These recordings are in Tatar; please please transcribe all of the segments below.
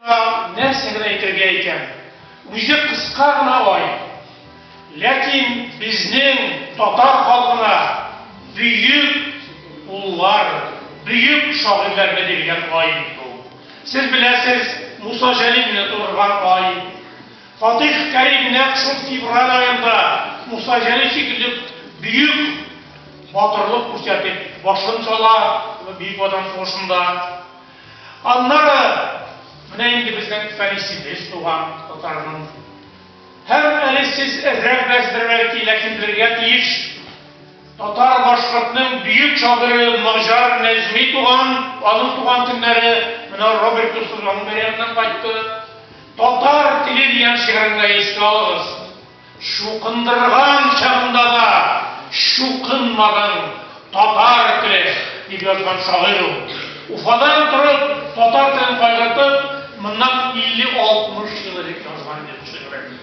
Нәрсә генә әйтергә икән? Үзе кыска гына ай. Ләкин безнең татар халкына бөек уллар, бөек шагыйрьләрне биргән ай бит бу. Сез беләсез, Муса Җәлилне турган ай. Фатих Кәрим нәкъ шул февраль аенда Муса Җәлил шикелле бөек батырлык күрсәтеп башын сала Бөек Ватан сугышында. Аннары менә инде безнең Фәнисебез туган татарның. Һәм әле сез әзрәк бәздер бәлки, ләкин белергә тиеш, татар-башкортның бөек шагыйре Маҗар Нәҗми туган, аның туган көннәре менә Роберт Дусыз аның бәйрәменнән кайтты. Татар теле дигән шигырен гә искә алыгыз. Чукындырган чагында да чукынмадың, татар теле, дип язган шагыйрь ул. Уфадан торып, татар телен кайгыртып, моннан 50-60 ел элек язган иде бу шигырен.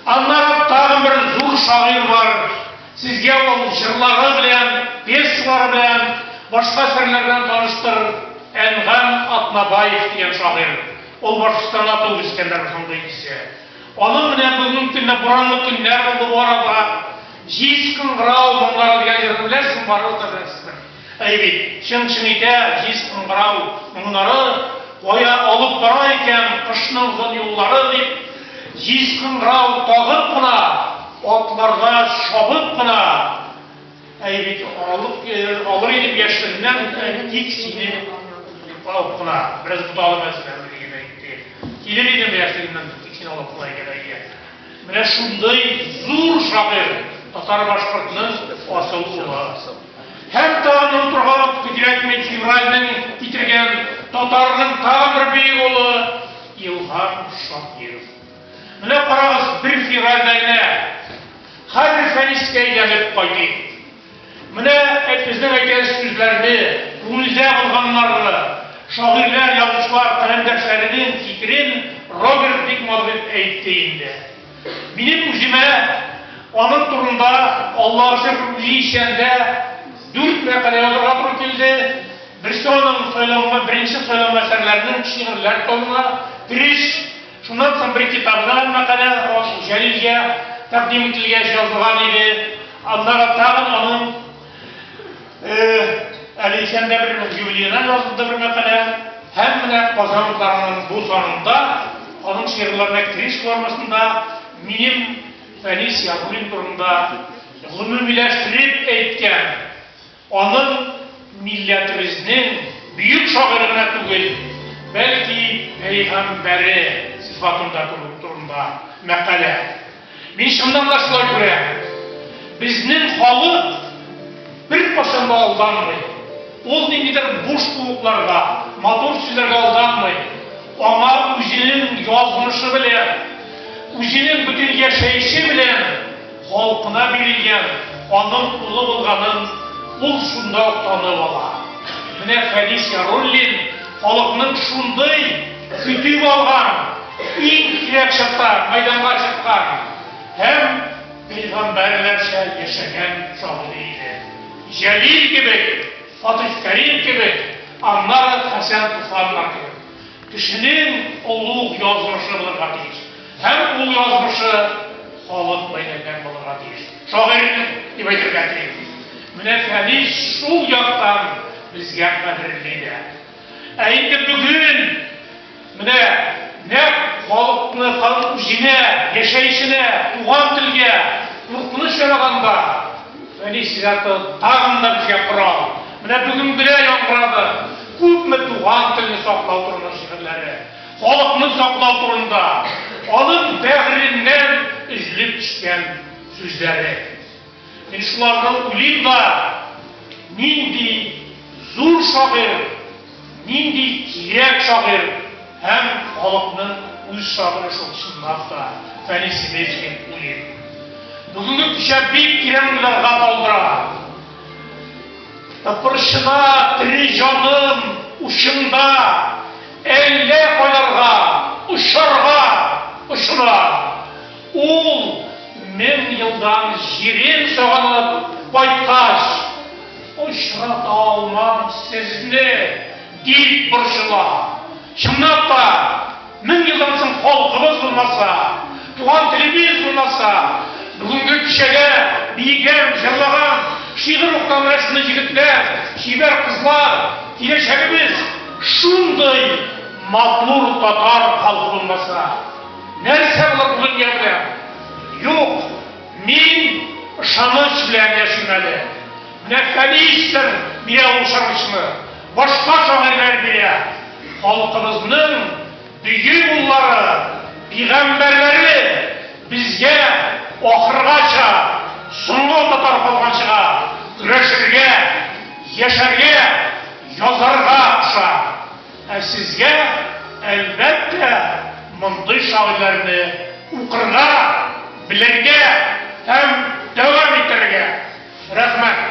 Аннары тагын бер зур шагыйрь бар, сезгә ул җырлары белән, пьесалары белән, башка әсәрләре белән таныштыр, Әнгам Атнабаев дигән шагыйрь. Ул Башкортстанда туып-үскәннәр, шундый исә. Аның белән бүгенге көндә буранлы көннәр булды бу арада. Җиз кыңгырау моңнары дигән җырны беләсең, барыбер дә беләсездер. Әй бит, чың-чың итә җиз кыңгырау моңнары, Кая алып бара икән кышның озын юллары, дип, җиз кыңгырау тагып кына, атларга чабып кына, Әй бит алып э, алыр идем яшьлегеннән үк, э, тик сине алып кына бераз буталып әзерләнде дигән әйтте. Килер идем яшьлегеннән үк, тик сине алып кына икән әйе. Менә шундый зур шагыйрь татар башкортның асыл улы. Һәм тагын онытырга кирәкми февральнең китергән татарның тагын бер бөек улы Илһам Шакиров. Менә карагыз, бер фирагәнә. Хәзер Фәнискә әйләнеп кайтыйк. Менә безнең әйткән сүзләрне, күңелгә алганнарны, шагыйрьләр, язучылар, каләмдәшләренең фикерен Роберт бик матур әйтте инде. Минем үземә аның турында, Аллага шөкер, үзе исәндә, дүрт мәкалә язарга туры килде. Берсе аның сайланган, беренче сайланган әсәрләренең шигырьләр томына, Кереш. Шуннан соң бер китабына мәкалә Җәлилгә тәкъдим ителгәч язылган иде. Аннары тагын аның әле исәндә бер юбилеена язылды бер мәкалә. Һәм менә Казан утларының бу санында аның шигырьләренә кереш формасында минем Фәнис Ягуллин турында гомумиләштереп әйткән, Аның милләтебезнең бөек шагыйре гына түгел, бәлки пәйгамбәре сыйфатында күрү турында мәкалә. Мин чыннан да шулай күрәм. Безнең халык беркайчан да алданмый. Ул ниндидер буш кубокларга, матур сүзләргә алданмый. Аңа үзенең язмышы белән, үзенең бөтен яшәеше белән. Халкына бирелгән аның улы булганын ул шунда ук танып ала. Менә Фәнис Яруллин халыкның шундый көтеп алган, иң кирәк чакта мәйданга чыккан һәм пәйгамбәрләрчә яшәгән шагыйре иде. Җәлил кебек, Фатыйх Кәрим кебек, аннары Хәсән Туфаннар кебек. Кешенең олуг язмышы булырга тиеш. Һәм ул язмышы халык бәйләнгән булырга тиеш. Шагыйрьнең, дип әйтергә телим. Менә Фәнис шул яктан безгә кадерле дә. Ә инде бүген менә нәкъ халыкны, халык үзенә, яшәешенә, туган телгә куркыныч яраганда, Фәнис иҗаты тагын да безгә корал. Менә бүген генә яңгырады күпме туган телне саклау турында шигырьләре. Халыкны саклау турында аның бәгыреннән өзелеп төшкән сүзләре. Мин шуларны уйлыйм да, нинди зур шагыйрь, нинди кирәк шагыйрь һәм халыкның үз шагыйре шул, чынлап та, Фәнис Сибәч дип уйлыйм. Бүгенге кичә бик тирән уйларга калдыра. Тыпырчына, тере җаным, учыңда! Әллә кайларга очарга очына. Ул мең елдан җирен сагынып кайткач, Очрата алмам сезне, дип борчыла. Чынлап та, мең елдан соң халкыбыз булмаса, Туган телебез булмаса, бүгенге кичәдә биегән, җырлаган, шигырь укыган рәсемле җегетләр, чибәр кызлар, киләчәгебез, шундый матур татар халкы булмаса, нәрсә булыр бу дөнья белән? Юк, мин ышаныч белән яшим әле. Менә Фәнистер бирә ул ышанычны, башка шагыйрьләр бирә. Халкыбызның. Дөге уллары, пигамбәрләре безгә ахыргача, соңгы татар калганчыга көрәшергә, яшәргә, язарга куша. Ә сезгә, әлбәттә, мондый шагыйрьләрне укырга, белергә һәм дәвам итәргә. Рәхмәт.